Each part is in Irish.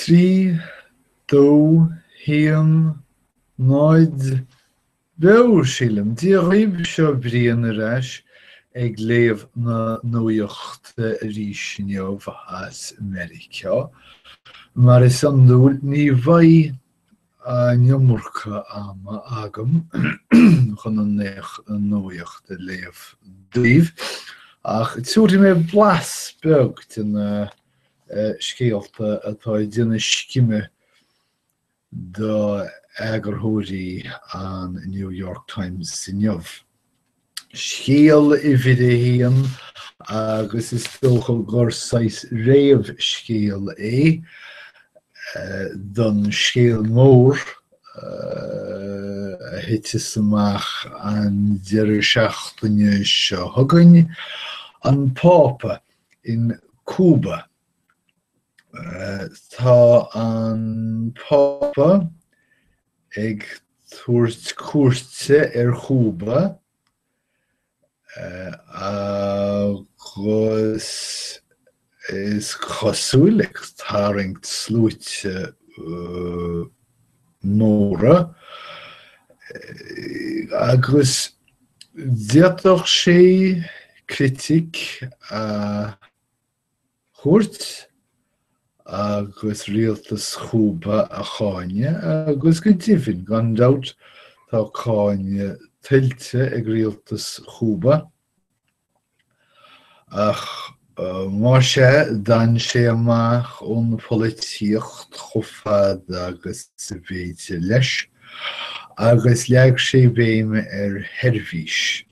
Trí, dó, haon, náid, beo, sílim. Dia dhaoibh, seo Brian ar ais ag léamh na nuaíochta arís inniu as Meiriceá. Mar is iondúil, ní bheidh an iomarca ama agam chun an nuaíocht a léamh daoibh, ach tiúrfaidh mé blas beag de na eh, scéalta atá ag déanamh scime d'eagarthóirí an New York Times inniu. scéal uimhir a haon agus is dócha gur saghas réamhscéal é don scéal mór a thiteas amach an deireadh seachtaine seo chugainn, An Pápa in Cúba. Tá an Pápa ag tabhairt cuairte ar Chúba agus is cosúil ag tarraingt sluaite móra agus d'fhéadfadh sé critic a thabhairt agus rialtas Chúba a cháineadh, agus go deimhin, gan dabht, tá cáineadh tuillte ag rialtas Chúba, ach mar sin, d'fhan sé amach ón pholaitíocht chomh fada agus ab fhéidir leis, agus leag sé béim ar sheirbhís.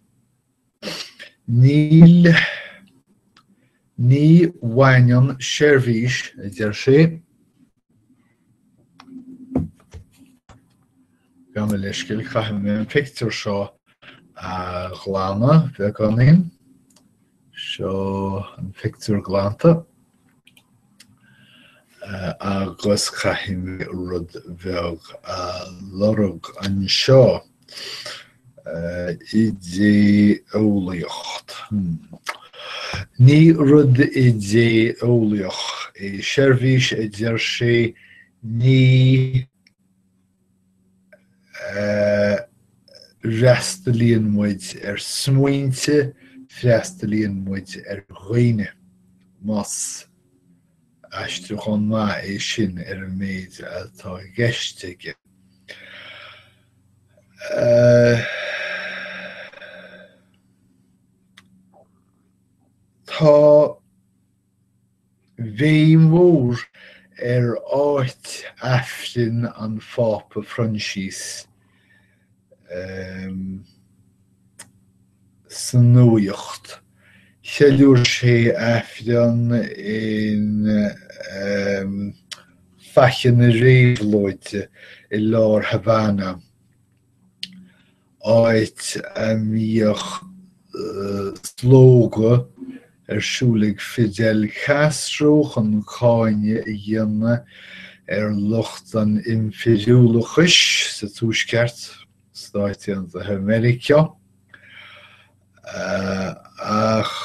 Níl, ní bhaineann seirbhís, a deir sé, gabh mo leithscéal, caithfidh mé an pictiúr seo a ghlanadh, beagáinín, seo an pictiúr glanta, agus caithfidh mé rud bheag a lorg anseo uh, idé-eolaíocht. Hmm. Ní rud idé-eolaíoch é seirbhís a deir sé ní freastalaíonn muid ar smaointe, freastalaíonn muid ar dhaoine, más aistriúchán maith é sin ar an méid atá i gceist aige. Tá. béim mhór ar áit aifrinn an Phápa Phroinsias sa nuacht. Cheiliúir sé aifreann in Faiche na Réabhlóide i lár Havana. áit a mbíodh slógadh ar siúl ag Fidel Castro chun cáineadh a dhéanamh ar lucht an impiriúlachais sa Tuaisceart, Stáit Aontaithe Mheiriceá. Ach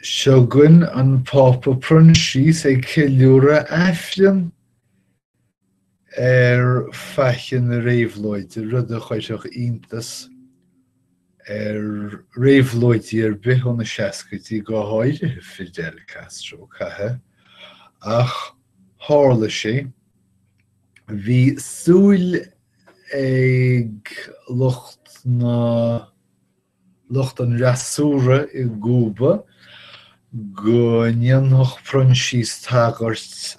seo againn an Pápa Proinsias ag ceiliúradh aifrinn ar Faiche na Réabhlóide, rud a chuirfeadh iontas ar réabhlóidí ar bith ó na seascaidí, go háirithe Fidel Castro. Caitheadh, ach tharla sé. Bhí súil ag lucht na. lucht an fhreasúra i gCúba go ndéanfadh Proinsias tagairt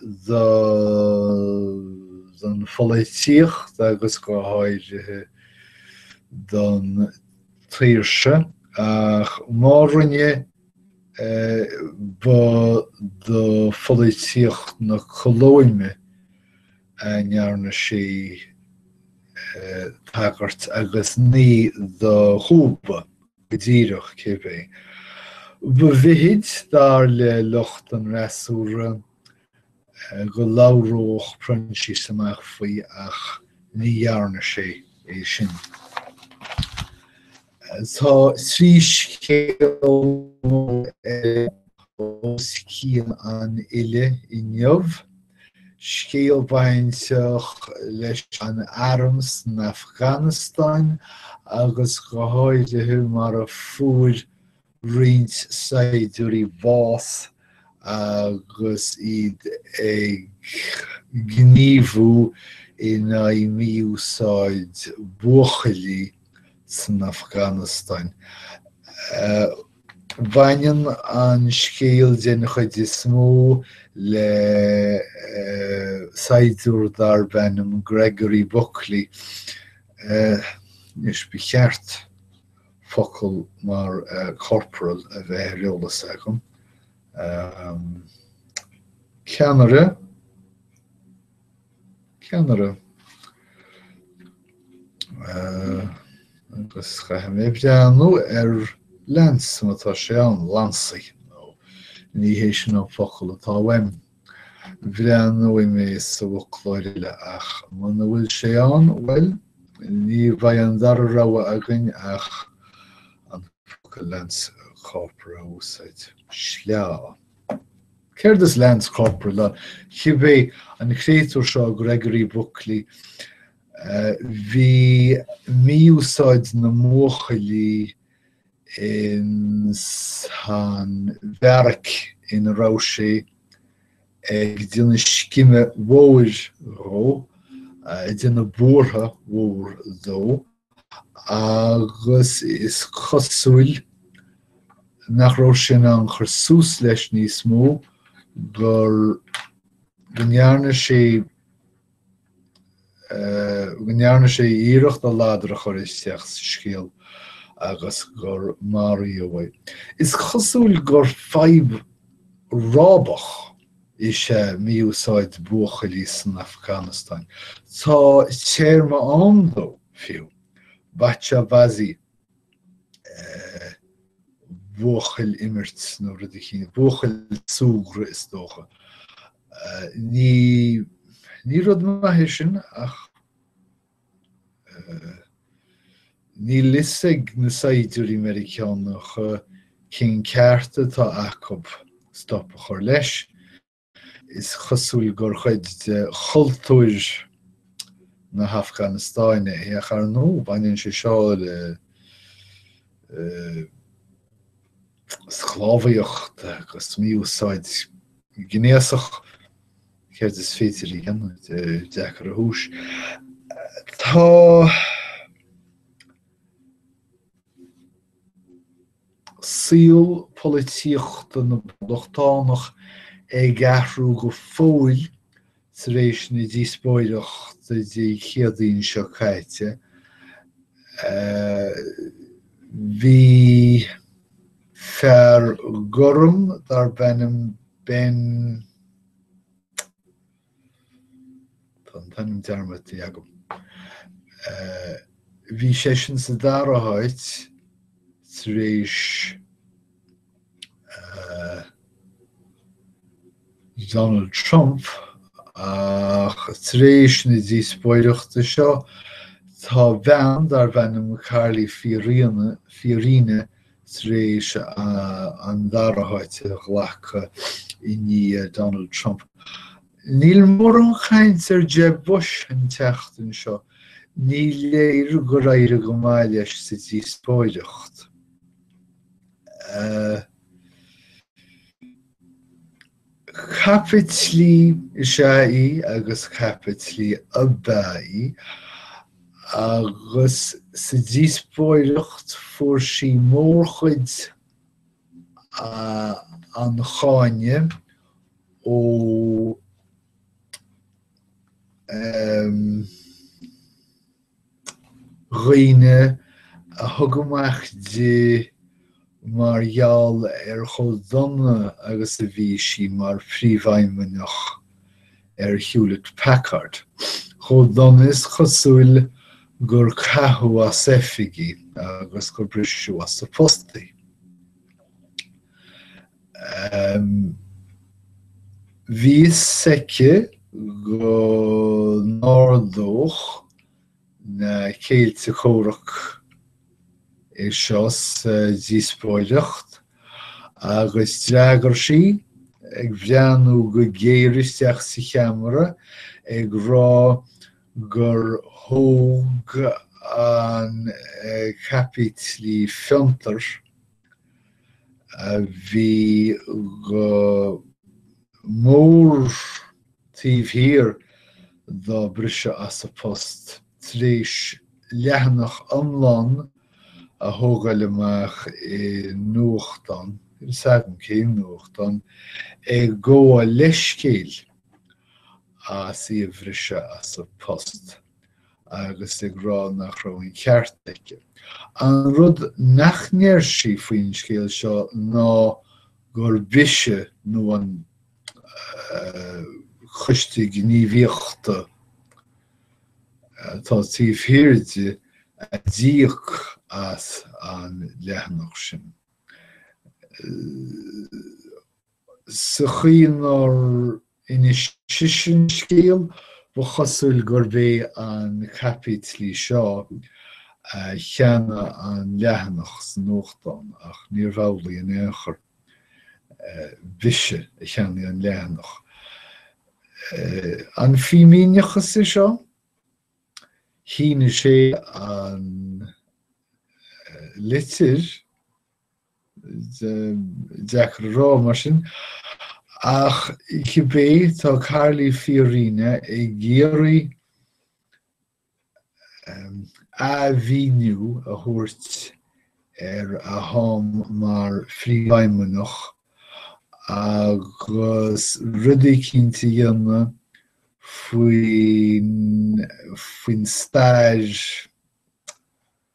don pholaitíocht agus go háirithe don tsaoirse ach má rinne, ba do pholaitíocht na Colóime a ndearna sé tagairt, agus ní do Chúba go díreach, cibé. Ba mhithid, dar le lucht an fhreasúra, go labhródh Proinsias amach faoi, ach ní dhearna sé é sin. Tá trí scéal os cionn an fhillte inniu, scéal bainteach leis an arm san Afganastáin agus go háirithe mar a fuair roinnt saighdiúirí bás agus iad ag gníomhú in aghaidh mí-úsáid buachaillí san Afganastáin. Baineann an scéal den chuid is mó le saighdiúir darb ainm Gregory Buckley, anois ba cheart focal mar corporal a bheith ar eolas agam. ceannaire, ceannaire. agus caithfidh mé breathnú ar lance má tá sé ann, lansaí, nó ní hé sin an focal atá uaim. Breathnóidh mé sa bhfoclóir eile ach muna bhfuil sé ann, bhuel, ní bheidh an dara rogha againn ach an focal lance corporal a úsáid. Sleá. Céard is lance corporal? Cibé an créatúr seo Gregory Buckley, bhí mí-úsáid na mbuachaillí ins an bhearaic ina raibh sé ag déanamh scime mhóir dhó, ag déanamh buartha mhór dó, agus is cosúil nach raibh sé in ann cur suas leis níos mó, gur, go ndearna sé, go ndearna sé iarracht a ladar a chur isteach sa scéal agus gur maraíodh é. Is cosúil gur fadhb rábach is ea mí-úsáid buachaillí san Afganastáin. Tá téarma ann dó, fiú, bacha-bazi, buachaill imirt nó rud eicínt, buachaill súgradh is dócha. Ní, ní rud maith é sin ach níl fhios ag na saighdiúirí Meiriceánacha cén ceart atá acu stop a chur leis. Is cosúil gur cuid de chultúr na hAfganastáine é, a chairde. Baineann sé seo le sclábhaíocht agus mí-úsáid ghnéasach, céard is féidir a dhéanamh deacair a thuiscint. Tá saol polaitíochta na bpoblachtánach ag athrú go fóill tar éis na díospóireachta Dé Céadaoin seo caite, bhí fear gorm darb ainm Ben. Tá an t-ainm dearmadta agam. Bhí seisean sa dara háit tar éis Donald Trump ach tar éis na díospóireachta seo tá bean darb ainm Carly Fiorina tar éis an dara háit a ghlacadh i ndiaidh Donald Trump. Níl mórán caint ar Jeb Bush an tseachtain seo, ní léir gur éirigh go maith leis sa díospóireacht. Caipitlí is ea í, agus caipitlí ab ea í, agus sa díospóireacht fuair sí mórchuid an cháineadh ó dhaoine a thug amach di mar gheall ar chomh dona agus a bhí sí mar phríomhfheidhmeannach ar Hewlett Packard, chomh dona is cosúil gur caitheadh as oifig í agus gur briseadh as a post í. Bhí fhios aici go n-ardódh na céilí comhraic é seo sa díospóireacht agus d'fhreagair sí, ag breathnú go géar isteach sa cheamara, ag rá gur thóg an caipitlí fiontair a bhí go mór taobh thiar dá briseadh as a post tar éis leathanach iomlán a thógáil amach i nuachtán, níl fhios agam cén nuachtán, ag gabháil leithscéil as í a bhriseadh as a post agus ag rá nach raibh an ceart aici. An rud nach ndeir sí faoin scéal seo ná gurb ise nó an Coiste Gníomhaíochta atá taobh thiar di a d'íoc as an leathanach sin. sa chaoi inar inis sise an scéal, ba chosúil gurb é an caipitlí seo a cheannaigh an leathanach sa nuachtán, ach níorbh amhlaidh in aon chor. B'ise a cheannaigh an leathanach. An fímíneachas é seo? Shínigh sé an litir. Deacair a rá, mar sin. Ach cibé, tá Carly Fiorina ag iarraidh athmhíniú a thabhairt ar a ham mar phríomhfheidhmeannach agus rudaí cinnte a dhéanamh faoin stair,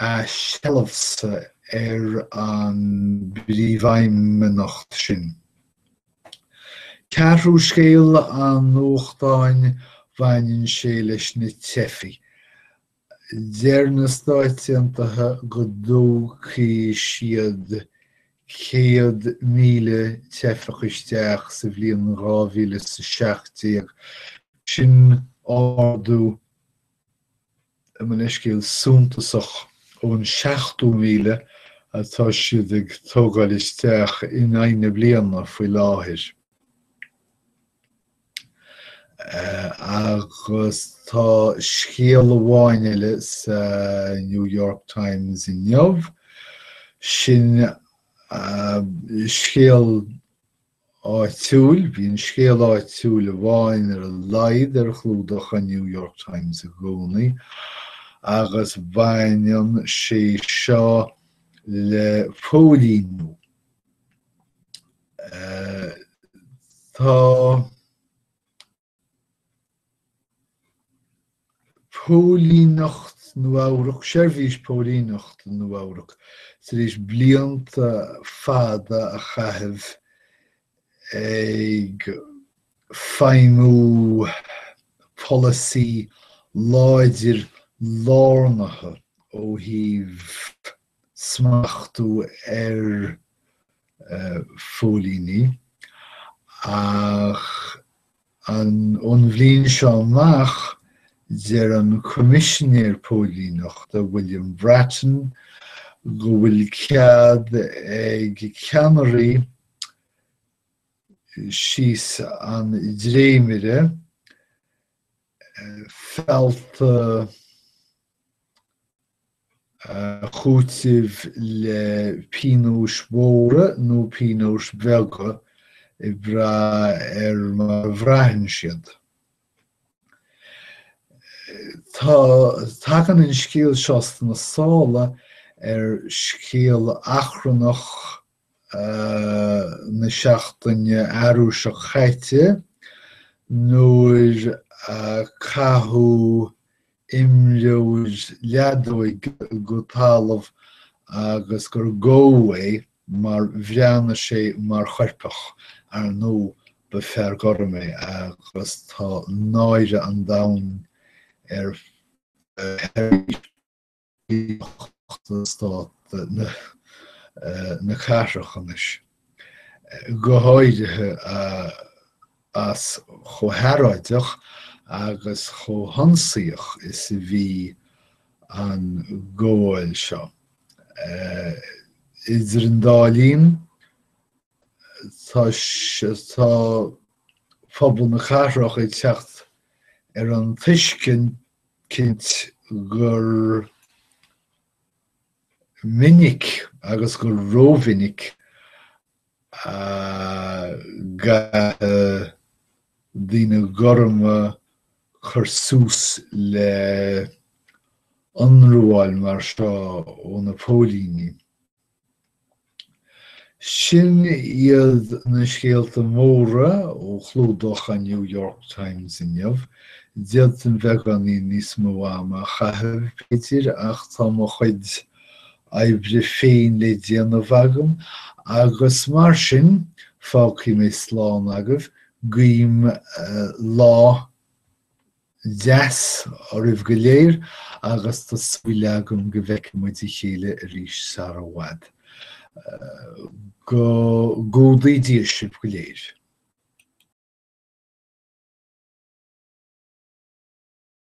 a seilbhse ar an bpríomhfheidhmeannacht sin. Ceathrú scéal an nuachtáin baineann sé leis na teifigh. Deir na Stáit Aontaithe go dtógfaidh siad 100,000 teifeach isteach sa bhliain dhá mhíle 's a seacht déag, sin ardú gabh mo leithscéal suntasach ón seachtó míle atá siad ag tógáil isteach in aghaidh na bliana faoi láthair agus tá scéal amháin eile sa New York Times inniu sin scéal áitiúil, bíonn scéal áitiúil amháin ar a laghad ar chlúdach an New York Times i gcónaí, agus baineann sé seo le póilíniú. Tá. Póilíneacht Nua-Eabhrac Seirbhís Póilíneachta Nua-Eabhrac Tar éis blianta fada a chaitheamh ag feidhmiú polasaí láidir lárnaithe ó thaobh smachtú ar phóilíní ach ón bhliain seo amach deir an Coimisinéir Póilíneachta, William Bratton, go bhfuil cead ag ceannairí síos an dréimire feall a, chúiteamh le pionóis mhóra nó pionóis bheaga ag brath ar mar a bhraitheann siad. Tagann an scéal seo sna sála ar scéal achrannach na seachtaine arú seo caite nuair a caitheadh imreoir leadóige go talamh agus gur gabhadh é mar bhreathnaigh sé mar choirpeach. Ar ndóigh, ba fear gorm é agus tá náire an domhain ar Stát na cathrach anois, go háirithe as chomh hearráideach agus chomh hionsaíoch is a bhí an ghabháil seo. Idir an dá linn, tá pobal na cathrach ag teacht ar an tuiscint, cinnte, gur minic agus gur rómhinic a chaitheann daoine gorma cur suas le hionramháil mar seo ó na póilíní. Sin iad na scéalta móra ó chlúdach an New York Times inniu. D'fhéadfainn beagáinín níos mó ama a chaitheamh, b'fhéidir, ach tá mo chuid oibre féin le déanamh agam agus mar sin fágfaidh mé slán agaibh. Guím lá deas oraibh go léir agus tá súil agam go bhfeicfidh muid a chéile arís sara i bhfad. Go gcumhdaí Dia sibh go léir.